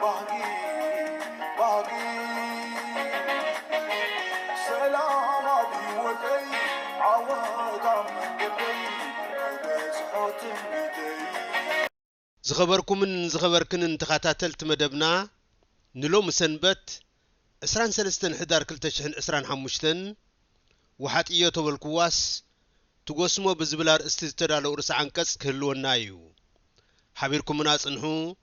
ባህጊ ባህጊ ሰላም ኣብ ሂወተይ ዓወት ኣብ መንገደይ ክበጽሖ ትምኒተይ ዝኸበርኩምን ዝኸበርክንን ተኻታተልቲ መደብና ንሎሚ ሰንበት ዕስራን ሰለስተን ሕዳር ክልተ ሽሕን ዕስራን ሓሙሽተን ወሓጥዮ ተበልኩዋስ ትጎስሞ ብዝብል ኣርእስቲ ዝተዳለው ርእሰ ዓንቀጽ ክህልወና ኢዩ። ሓቢርኩምና ጽንሑ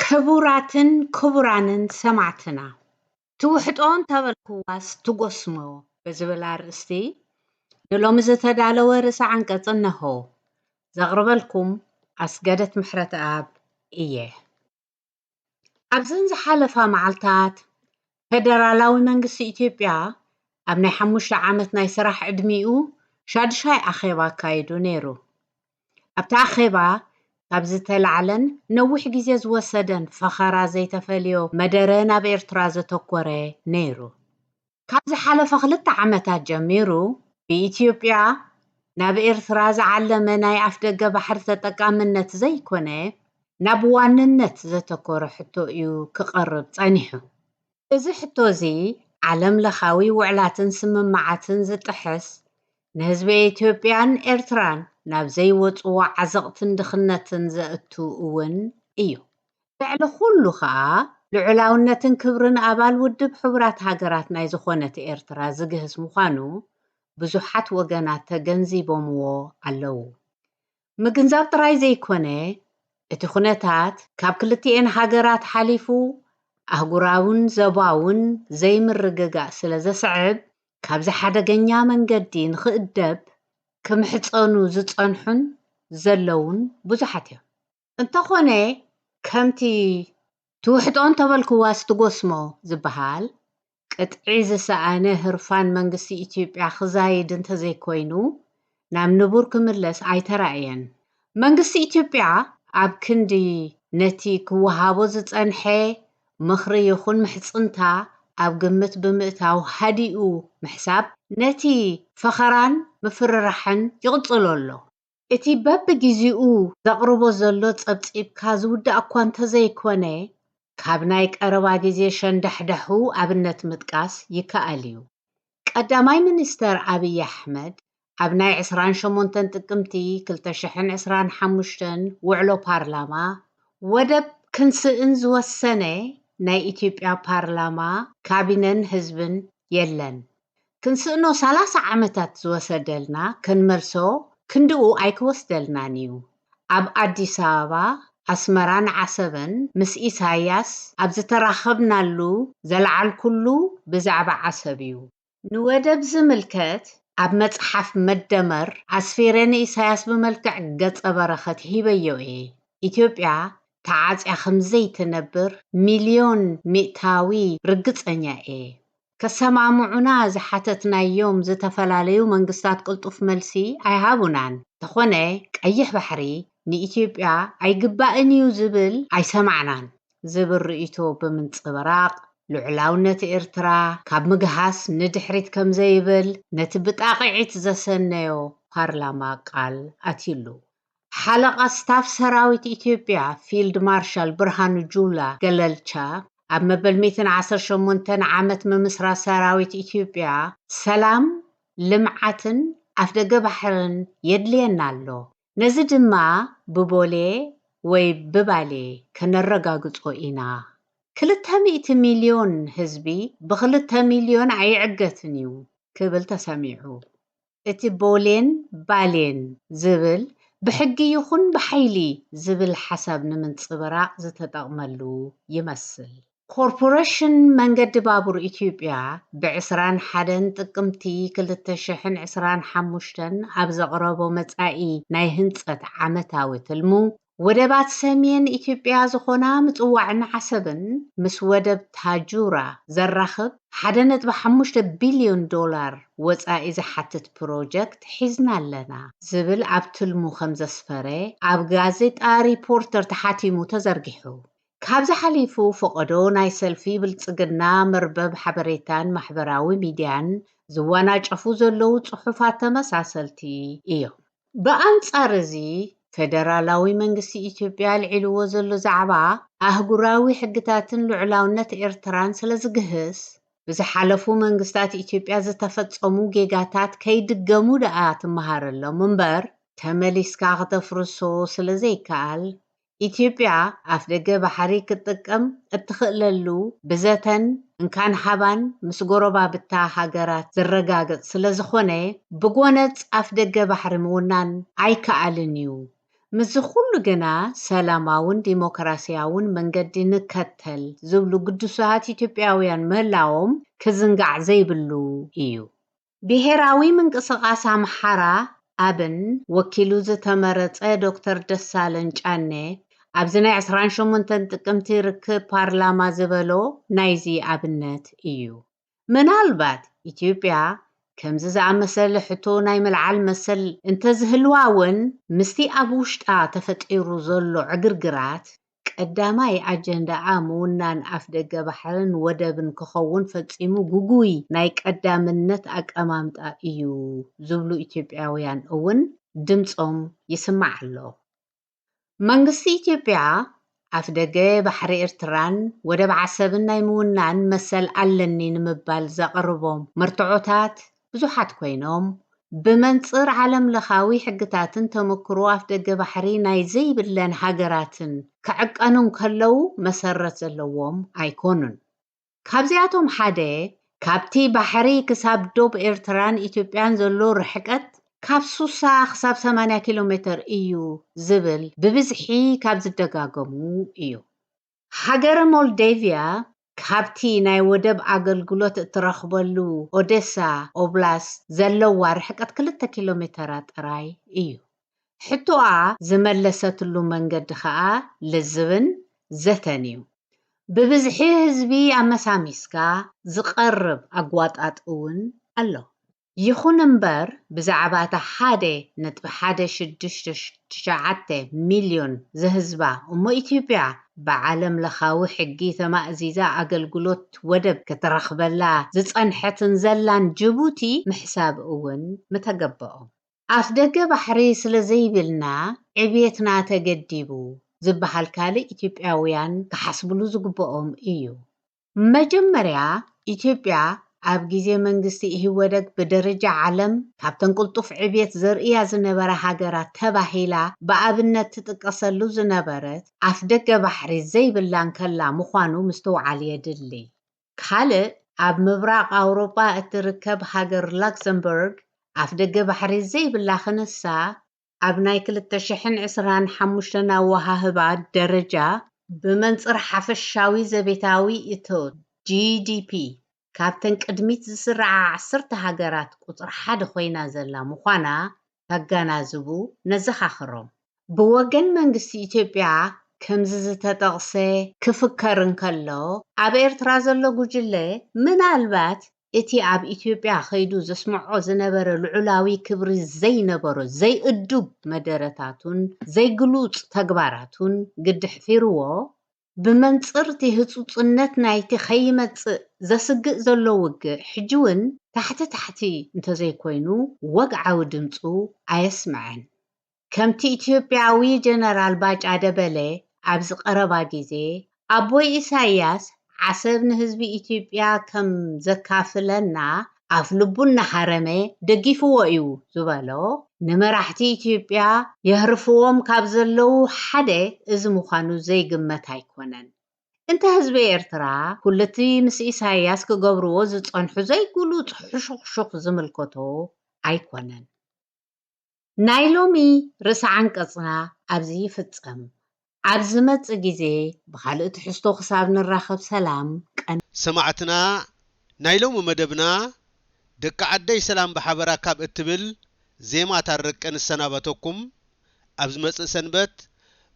ክቡራትን ክቡራንን ሰማዕትና ትውሕጦ እንተበልኩዋስ ትጎስሞ ብዝብል ኣርእስቲ ንሎሚ ዝተዳለወ ርእሰ ዓንቀጽ እነሆ። ዘቕርበልኩም ኣስገደት ምሕረትኣብ እየ። ኣብዘን ዝሓለፋ መዓልታት ፈደራላዊ መንግስቲ ኢትዮጵያ ኣብ ናይ ሓሙሽተ ዓመት ናይ ስራሕ ዕድሚኡ ሻድሻይ ኣኼባ ኣካይዱ ነይሩ። ኣብቲ ኣኼባ ካብ ዝተላዕለን ነዊሕ ግዜ ዝወሰደን ፈኸራ ዘይተፈልዮ መደረ ናብ ኤርትራ ዘተኮረ ነይሩ። ካብ ዝሓለፈ ክልተ ዓመታት ጀሚሩ ብኢትዮጵያ ናብ ኤርትራ ዝዓለመ ናይ ኣፍደገ ባሕሪ ተጠቃምነት ዘይኮነ ናብ ዋንነት ዘተኮረ ሕቶ እዩ ክቐርብ ጸኒሑ። እዚ ሕቶ እዚ ዓለም ለኻዊ ውዕላትን ስምምዓትን ዝጥሕስ፣ ንህዝቢ ኢትዮጵያን ኤርትራን ናብ ዘይወጽዎ ዓዘቕትን ድኽነትን ዘእቱ እውን እዩ። ልዕሊ ኩሉ ከኣ ልዑላውነትን ክብርን ኣባል ውድብ ሕቡራት ሃገራት ናይ ዝኾነት ኤርትራ ዝግህስ ምዃኑ ብዙሓት ወገናት ተገንዚቦምዎ ኣለዉ። ምግንዛብ ጥራይ ዘይኮነ፣ እቲ ኩነታት ካብ ክልቲኤን ሃገራት ሓሊፉ ኣህጉራውን ዘባውን ዘይምርግጋእ ስለ ዘስዕብ ካብዚ ሓደገኛ መንገዲ ንኽእደብ ክምሕጸኑ ዝጸንሑን ዘለዉን ብዙሓት እዮም። እንተኾነ ከምቲ ትውሕጦ እንተበልክዋስ ትጎስሞ ዝበሃል፣ ቅጥዒ ዝሰኣነ ህርፋን መንግስቲ ኢትዮጵያ ክዛይድ እንተዘይኮይኑ ናብ ንቡር ክምለስ ኣይተራእየን። መንግስቲ ኢትዮጵያ ኣብ ክንዲ ነቲ ክወሃቦ ዝጸንሐ ምኽሪ ይኹን ምሕጽንታ ኣብ ግምት ብምእታው ሃዲኡ ምሕሳብ ነቲ ፈኸራን ምፍርራሕን ይቕጽሎ ኣሎ። እቲ በብጊዚኡ ዘቕርቦ ዘሎ ጸብጺብካ ዝውዳእ'ኳ እንተዘይኮነ፣ ካብ ናይ ቀረባ ጊዜ ሸንዳሕዳሑ ኣብነት ምጥቃስ ይከኣል'ዩ። ቀዳማይ ሚኒስተር ኣብይ ኣሕመድ ኣብ ናይ ዕስራን ሸሞንተን ጥቅምቲ ክልተ ሽሕን ዕስራን ሓሙሽተን ውዕሎ ፓርላማ፣ ወደብ ክንስእን ዝወሰነ ናይ ኢትዮጵያ ፓርላማ፣ ካቢነን ህዝብን የለን ክንስእኖ ሰላሳ ዓመታት ዝወሰደልና ክንመልሶ ክንድኡ ኣይክወስደልናን እዩ። ኣብ ኣዲስ ኣበባ፣ ኣስመራን ዓሰበን ምስ ኢሳይያስ ኣብ ዝተራኸብናሉ ዘልዓልኩሉ ብዛዕባ ዓሰብ እዩ። ንወደብ ዝምልከት ኣብ መጽሓፍ መደመር ኣስፊረ ንኢሳይያስ ብመልክዕ ገጸ በረኸት ሂበዮ እየ። ኢትዮጵያ ተዓጽያ ከምዘይትነብር ሚልዮን ሚእታዊ ርግጸኛ እየ። ከሰማምዑና ዝሓተትናዮም ዝተፈላለዩ መንግስታት ቅልጡፍ መልሲ ኣይሃቡናን። እንተኾነ ቀይሕ ባሕሪ ንኢትዮጵያ ኣይግባእን'ዩ ዝብል ኣይሰማዕናን ዝብል ርእይቶ ብምንጽብራቕ፣ ልዑላውነት ኤርትራ ካብ ምግሃስ ንድሕሪት ከምዘይብል ነቲ ብጣቕዒት ዘሰነዮ ፓርላማ ቃል ኣትዩሉ። ሓለቓ ስታፍ ሰራዊት ኢትዮጵያ ፊልድ ማርሻል ብርሃኑ ጁላ፣ ገለልቻ፣ ኣብ መበል ሚእትን ዓሰርተ ሸሞንተን ዓመት ምምስራት ሰራዊት ኢትዮጵያ ሰላም፣ ልምዓትን ኣፍደገ ባሕርን የድልየና ኣሎ፣ ነዚ ድማ ብቦሌ ወይ ብባሌ ከነረጋግጾ ኢና፣ ክልተ ሚእቲ ሚልዮን ህዝቢ ብኽልተ ሚልዮን ኣይዕገትን እዩ ክብል ተሰሚዑ። እቲ ቦሌን ባሌን ዝብል ብሕጊ ይኹን ብሓይሊ ዝብል ሓሳብ ንምንፅብራቕ ዝተጠቕመሉ ይመስል። ኮርፖሬሽን መንገዲ ባቡር ኢትዮጵያ ብ ዕስራን ሓደን ጥቅምቲ ክልተ ሽሕን ዕስራን ሓሙሽተን ኣብ ዘቕረቦ መፃኢ ናይ ህንፀት ዓመታዊ ትልሙ ወደባት ሰሜን ኢትዮጵያ ዝኾና ምጽዋዕን ዓሰብን ምስ ወደብ ታጁራ ዘራኽብ ሓደ ነጥቢ ሓሙሽተ ቢልዮን ዶላር ወጻኢ ዝሓትት ፕሮጀክት ሒዝና ኣለና ዝብል ኣብ ትልሙ ከምዘስፈረ ኣብ ጋዜጣ ሪፖርተር ተሓቲሙ ተዘርጊሑ። ካብዚ ሓሊፉ ፈቐዶ ናይ ሰልፊ ብልጽግና መርበብ ሓበሬታን ማሕበራዊ ሚድያን ዝወናጨፉ ዘለዉ ጽሑፋት ተመሳሰልቲ እዮም። ብኣንጻር እዚ፣ ፈደራላዊ መንግስቲ ኢትዮጵያ ኣልዒልዎ ዘሎ ዛዕባ፣ ኣህጉራዊ ሕግታትን ልዑላውነት ኤርትራን ስለዝግህስ፣ ብዝሓለፉ መንግስታት ኢትዮጵያ ዝተፈጸሙ ጌጋታት ከይድገሙ ደኣ ትመሃረሎም እምበር፣ ተመሊስካ ክተፍርሶ ስለዘይከኣል፣ ኢትዮጵያ ኣፍደገ ባሕሪ ክትጥቀም እትኽእለሉ ብዘተን እንካን ሃባን ምስ ጎረባብታ ሃገራት ዝረጋገፅ ስለዝኾነ ብጎነፅ ኣፍደገ ባሕሪ ምውናን ኣይክኣልን ዩ። ምስዚ ኹሉ ግና ሰላማውን ዲሞክራሲያውን መንገዲ ንከተል ዝብሉ ግዱሳት ኢትዮጵያውያን ምህላዎም ክዝንጋዕ ዘይብሉ ዩ። ብሄራዊ ምንቅስቓስ ኣምሓራ፣ ኣብን፣ ወኪሉ ዝተመረጸ ዶክተር ደሳለን ጫኔ፣ ኣብዚ ናይ ዕስራን ሸሞንተን ጥቅምቲ ርክብ ፓርላማ ዝበሎ ናይዚ ኣብነት እዩ። ምናልባት ኢትዮጵያ ከምዚ ዝኣመሰለ ሕቶ ናይ ምልዓል መሰል እንተዝህልዋ እውን ምስቲ ኣብ ውሽጣ ተፈጢሩ ዘሎ ዕግርግራት ቀዳማይ ኣጀንዳኣ ምውናን ኣፍደገ ባሕርን ወደብን ክኸውን ፈጺሙ ግጉይ ናይ ቀዳምነት ኣቀማምጣ እዩ ዝብሉ ኢትዮጵያውያን እውን ድምጾም ይስማዕ ኣሎ። መንግስቲ ኢትዮጵያ ኣፍደገ ባሕሪ ኤርትራን ወደብ ዓሰብን ናይ ምውናን መሰል ኣለኒ ንምባል ዘቕርቦም መርትዖታት ብዙሓት ኮይኖም፣ ብመንጽር ዓለምለኻዊ ሕግታትን ተመክሮ ኣፍደገ ባሕሪ ናይ ዘይብለን ሃገራትን ክዕቀኑ እንከለዉ መሰረት ዘለዎም ኣይኮኑን። ካብዚኣቶም ሓደ፣ ካብቲ ባሕሪ ክሳብ ዶብ ኤርትራን ኢትዮጵያን ዘሎ ርሕቀት ካብ ሱሳ ክሳብ ሰማንያ ኪሎሜተር እዩ ዝብል ብብዝሒ ካብ ዝደጋገሙ እዩ። ሃገረ ሞልደቪያ ካብቲ ናይ ወደብ ኣገልግሎት እትረኽበሉ ኦደሳ ኦብላስት ዘለዋ ርሕቀት ክልተ ኪሎሜተራት ጥራይ እዩ። ሕቶኣ ዝመለሰትሉ መንገዲ ከኣ ልዝብን ዘተን እዩ። ብብዝሒ ህዝቢ ኣመሳሚስካ ዝቐርብ ኣጓጣጥ እውን ኣሎ። ይኹን እምበር ብዛዕባ እታ ሓደ ነጥቢ ሓደ ሽዱሽተ ትሽዓተ ሚልዮን ዘህዝባ እሞ ኢትዮጵያ ብዓለም ለኻዊ ሕጊ ተማእዚዛ ኣገልግሎት ወደብ ክትረኽበላ ዝጸንሐትን ዘላን ጅቡቲ ምሕሳብ እውን ምተገበኦ። ኣፍደገ ባሕሪ ስለ ዘይብልና ዕብየትና ተገዲቡ ዝበሃል ካልእ ኢትዮጵያውያን ክሓስብሉ ዝግበኦም እዩ። መጀመርያ ኢትዮጵያ ኣብ ግዜ መንግስቲ ኢህወደግ ብደረጃ ዓለም ካብተን ቅልጡፍ ዕብየት ዘርእያ ዝነበራ ሃገራት ተባሂላ ብኣብነት ትጥቀሰሉ ዝነበረት ኣፍደገ ባሕሪ ዘይብላ እንከላ ምዃኑ ምስትውዓል የድሊ። ካልእ ኣብ ምብራቕ ኣውሮጳ እትርከብ ሃገር ላክሰምበርግ ኣፍደገ ባሕሪ ዘይብላ ክንሳ፣ ኣብ ናይ ክልተ ሽሕን ዕስራን ሓሙሽተን ኣወሃህባ ደረጃ ብመንጽር ሓፈሻዊ ዘቤታዊ እቶት፣ GDP፣ ካብተን ቅድሚት ዝስርዓ ዓሰርተ ሃገራት ቁጽሪ ሓደ ኮይና ዘላ ምዃና ከጋናዝቡ ነዘኻኽሮም። ብወገን መንግስቲ ኢትዮጵያ ከምዚ ዝተጠቕሰ ክፍከር እንከሎ፣ ኣብ ኤርትራ ዘሎ ጉጅለ ምናልባት እቲ ኣብ ኢትዮጵያ ከይዱ ዘስምዖ ዝነበረ ልዑላዊ ክብሪ ዘይነበሮ ዘይእዱብ መደረታቱን ዘይግሉጽ ተግባራቱን ግዲ ሕፊርዎ፣ ብመንጽር'ቲ ህጹጽነት ናይ'ቲ ከይመጽእ ዘስግእ ዘሎ ውግእ ሕጂ'ውን ታሕቲ ታሕቲ እንተዘይኮይኑ ወግዓዊ ድምጹ ኣየስመዐን። ከምቲ ኢትዮጵያዊ ጀነራል ባጫ ደበሌ ኣብዚ ቀረባ ግዜ ኣቦይ ኢሳይያስ ዓሰብ ንህዝቢ ኢትዮጵያ ከም ዘካፍለና ኣፍ ልቡ እናሃረመ ደጊፍዎ እዩ ዝበሎ ንመራሕቲ ኢትዮጵያ የህርፍዎም ካብ ዘለዉ ሓደ እዚ ምዃኑ ዘይግመት ኣይኮነን። እንተ ህዝቢ ኤርትራ ኩሉቲ ምስ ኢሳይያስ ክገብርዎ ዝጸንሑ ዘይግሉጽ ሕሹኽሹኽ ዝምልከቶ ኣይኮነን። ናይ ሎሚ ርእሰ ዓንቀጽና ኣብዚ ይፍጸም። ኣብ ዝመጽእ ግዜ ብኻልእ ትሕዝቶ ክሳብ ንራኸብ ሰላም ቀን። ሰማዕትና ናይ ሎሚ መደብና ደቂ ዓደይ ሰላም ብሓበራ ካብ እትብል ዜማ ታረቀ ንሰናበተኩም ኣብ ዝመጽእ ሰንበት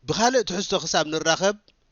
ብኻልእ ትሕዝቶ ክሳብ ንራኸብ